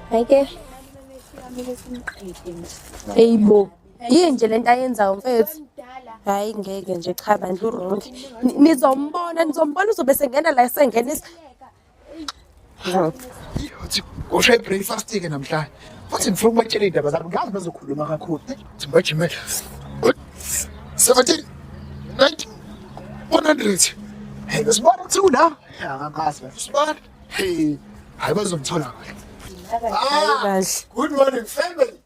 Hayike. Eyibo. Yini nje lento ayenzayo mfethu? Hayi ngeke nje cha bandlu wrong. Nizombona, nizombona uzobe sengena la sengenisa. Uthi ushaye breakfast-ke namhlanje. Futhi ngifuna ukubatshela iy'ndaba zabo. Ngazi bazokhuluma kakhulu. Uthi ngibajimele. 17, 90, 100. Hey, besibona ukuthi ula. Angakazi manje. Sibona. Hey, hayi bazomthola kahle. Kahle. Good morning, family.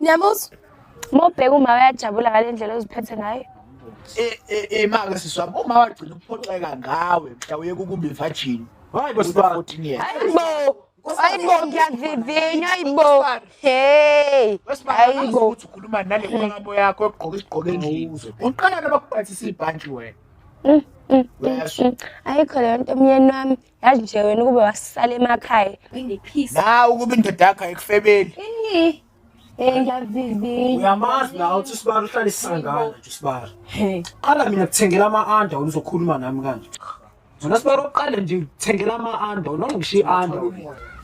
Niyamuzwa? Uma ubheka uma uyajabula ngale ndlela oziphethe ngayo. Imake siswa uma wagcina ukuphoxeka ngawe mhla uye kukubi virgin. Hayi bo sibaba. Hayi bo. Hayi bo ngiyavivinya hayi bo. Hey. Hayi bo. Ukhuluma nale nhlangano yakho egqoka isigqoko endlini. Uqala nabakuphathisa ibhantshi wena. Mm, mm, mm, ayikho leyo nto myeni wami yazi nje wena ukube wasisala emakhaya na ukuba indoda yakho ayikufebeli uyamazi nawe uthi usibara uhlale isisangana nje usibara qala mina kuthengela ama-anda wena uzokhuluma nami kanje zona sibara uqale nje kuthengela ama-anda wena ungishiye i-anda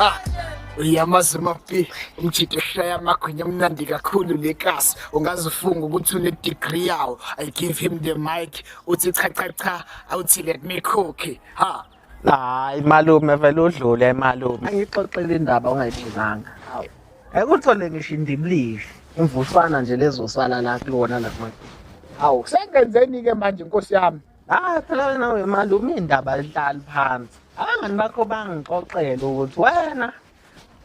Ah, uyamazi mapi umjito oshaya amagwinya amnandi kakhulu le kasi ungaze ufunge ukuthi une-degree yawo i give him the mic uthi cha cha cha awuthi let me cook ha hayi malume vele udlule malume angixoxele indaba ongayibizanga Ekuthole ngisho indibilihle imvusana nje lezosala la kulona nakuma. Hawu sengenzeni ke manje inkosi yami. Ah phela nawe manje uma indaba lihlali phansi. Abangani bakho bangixoxela ukuthi wena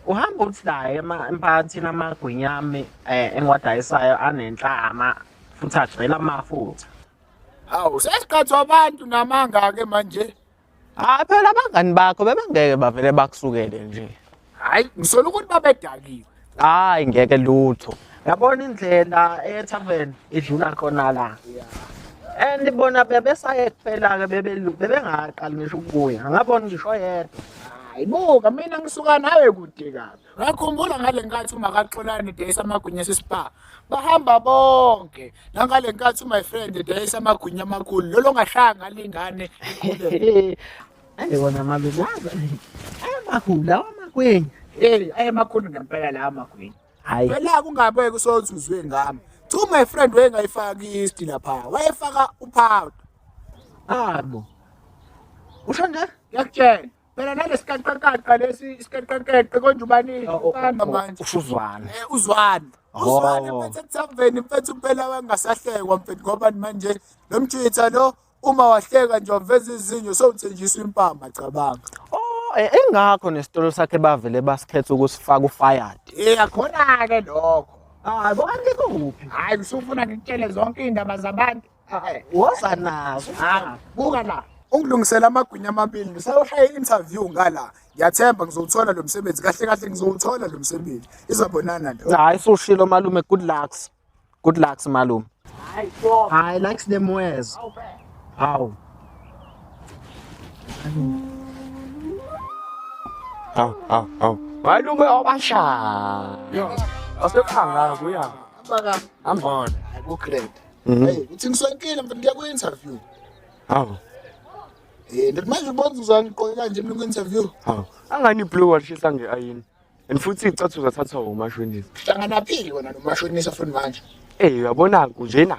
uhamba uthi naye emphakathini amagwinya ami eh, engiwadayisayo anenhlama futhi agcwele amafutha. Hawu sesiqhathwa abantu namanga-ke manje. hayi phela abangani bakho bebengeke bavele bakusukele nje hayi ngisola ukuthi babedakiwe hayi ngeke lutho yabona indlela etavern idlula khona la and bona bebesaye kuphela-ke bebengaqali ngisho ukubuya ngabona ngisho yedwa hayi buka mina ngisuka nawe kude kabi Ngakhumbula ngale nkathi umakaXolani edayisa amagwinya sespa bahamba bonke nangale nkathi my friend edayisa amagwinya amakhulu lolo ngashaya ngalingane ayibona mabe laza ayamakhulu lawa amagwinya hey ayamakhulu ngempela lawa amagwinya hayi phela kungabeke usothi uzwe ngami two my friend wayengayifaki isti lapha wayefaka upowder abo usho nje ngiyakutshela phela nalesiqaqaqaqa lesi isiqaqaqeqe konje ubanini oh, oh, uqamba oh, manje usuzwana eh uzwana uzwana mfethu ethamveni mfethu impela wangasahlekwa mfethu ngoba manje lo mjitha lo uma wahleka nje waveza izinyo sowuthenjiswa impama cabanga Eh, engakho nesitolo sakhe bavele basikhetha ukusifaka ufired eh akhona ke lokho hayi ah, bonke kuphi hayi usufuna ngikutshele zonke indaba zabantu woza nazo ah, buka la ungilungisela amagwinya amabili ngisayoshaya i-interview ngala ngiyathemba ngizowuthola lo msebenzi kahle kahle ngizowuthola lo msebenzi izabonana nto hayi sushilo malume good lucks good lucks malume hayi likes them worse hawu hawu hawu hawu malume obashaya asekhangala kuya ambona kugrade Mhm. Hey, uthi ngisonkile mfana ngiya ku-interview. Hawu. Eh, ndithi manje ubona uzangiqoke kanje mina ku-interview. Hawu. Angani blue walishisa ngeayini. And futhi icathu zathathwa umashonisa. Hlangana phili wena nomashonisa futhi manje. Eh, uyabona kunjena.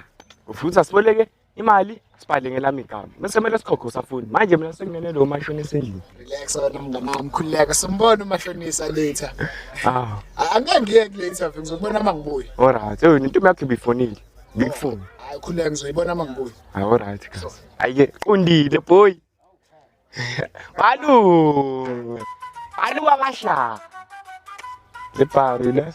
Ufuthi asiboleke imali sibhale ngelami igama. Bese kumele sikhokhe usafuni. Manje mina sekunene lo mashonisa endlini. Relax wena mngane wami khululeka simbona umashonisa later. Hawu. Angeke ngiye kule interview ngizobona uma ngibuya. Alright. Hey, into yakhe bifonile. Big four. Hayi khuleka ngizoyibona uma ngibuya. Hawu right kahle. Ayike qondile boy. Balu. Balu wabasha. Lepari le.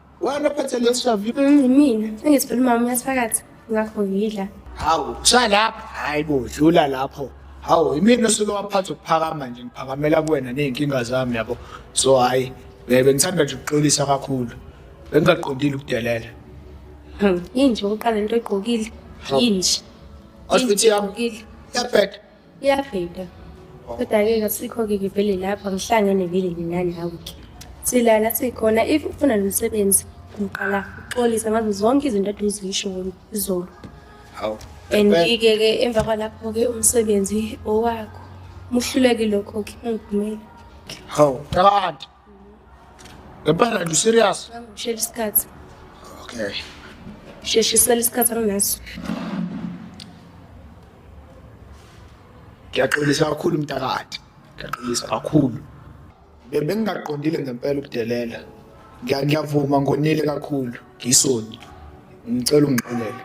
Wena phethe leshavu. Mm, mina sengithi phela umama uyaphakathi ngakho ngidla. Hawu, cha lapha. Hayi bo, dlula lapho. Hawu, imina osuke waphatha ukuphakama nje ngiphakamela kuwena nezinkinga zami yabo. So hayi, bebe ngithanda nje ukuxolisa kakhulu. Bengingaqondile ukudelela. Hmm, yini nje uqala into egqokile? Yini nje? Hospital yami. Yabheda. Iyaphila. Kodwa-ke kasikho-ke ngivele lapha ngihlangene vele mina nawe-ke. Silala sikhona if ufuna lo msebenzi ngiqala uxolisa ngazo zonke izinto ade uzisho izolo. Hawu. And ike ke emva kwalapho ke umsebenzi owakho. Muhluleki lokho ke ungivumeli. Hawu. Qala. Ngempela nje serious? Shela isikhathi. Okay. Sheshisela isikhathi anginaso. Ngiyaxolisa kakhulu mntakade. Ngiyaxolisa kakhulu. Bebengingaqondile ngempela ukudelela. Ngiyavuma ngonile kakhulu. Ngisoni. Ngicela ungixolele.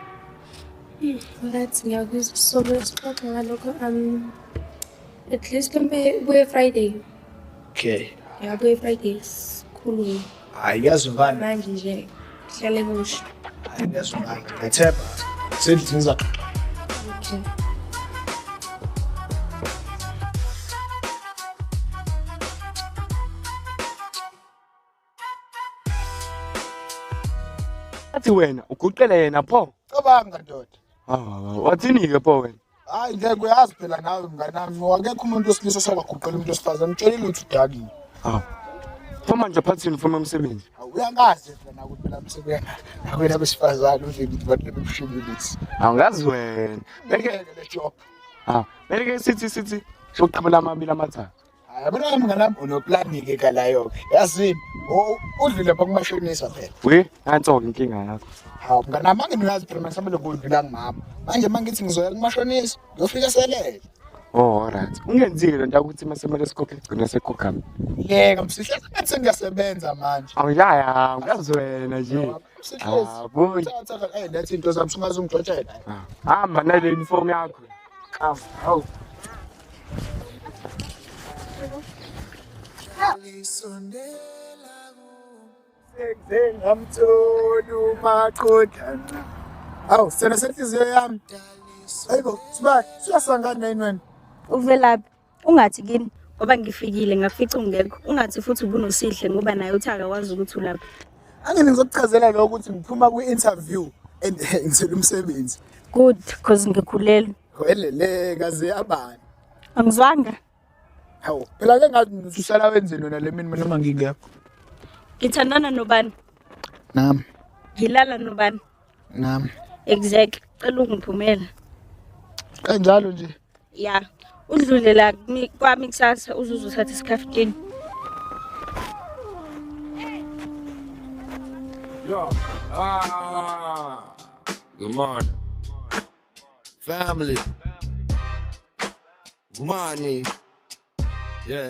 Ngathi ngiyakuzwa sobe sixoxa ngalokho um At least kumbe buye Friday. Okay. Yeah, buye Friday. Sikhulume. Hayi yazi ubani? Manje nje hlale kusho. Hayi yazi ubani? Ngethemba. Sendlini zaxoxa. Okay. Athi wena uguqele yena pho. Cabanga ndoda. Ah, wathini ke pho wena? Hayi ngeke uyazi phela nawe mnganami ngoba akekho umuntu wesilisa osabaguqela umuntu wesifazane mtshelile ukuthi udakile. Ah. Pho manje phathini ufuna umsebenzi. Uyangazi phela ukuthi phela umsebenzi akwena besifazane uze ngithi bantu bebushimbilisi. Awungazi wena. Beke le job. Ah, beke sithi sithi soqabela amabili amathathu. Yabona ke mngane wami unoplani-ke kalayo-ke yazini udlule pha kumashonisa phela we nanso-ke inkinga yakho hawu mngane wami anginoyazi phela masamele kudlula ngimama manje uma ngithi ngizoya kumashonisa ngiyofika selele Oh alright. Ungenzile lento ukuthi masemele sikhokhe igcina sekhokhami. Yeka msihle ngathi sengiyasebenza manje. Awuyaya, uyazi wena nje. Msihle. Hayi, thatha eh lethe into zami singaze ungixotshela. Hamba nale uniform yakho. ngamtholi umaqodlana awu sena senhliziyo yami ayibo sibani siyasangana yini wena uvelaphi Ungathi kimi ngoba ngifikile ngakufica ungekho. Ungathi futhi ubunosihle ngoba naye uthi akakwazi ukuthi ulapha. Angene ngizokuchazela lokho ukuthi ngiphuma kwi-interview and ngithela umsebenzi. Good cause ngikhulelwe. Welele kaze yabani. Angizwanga. Hawu, phela ke ngathi usuhlala wenzeni wena le mina noma ngingekho. Ngithandana nobani? Nami. Ngilala nobani? nami exactly cela ungiphumela kanjalo nje ya udlule la kumi- kwami kusasa uzuze uthathe isikhaftini Yo, ah, good morning. Family. Money. Yeah.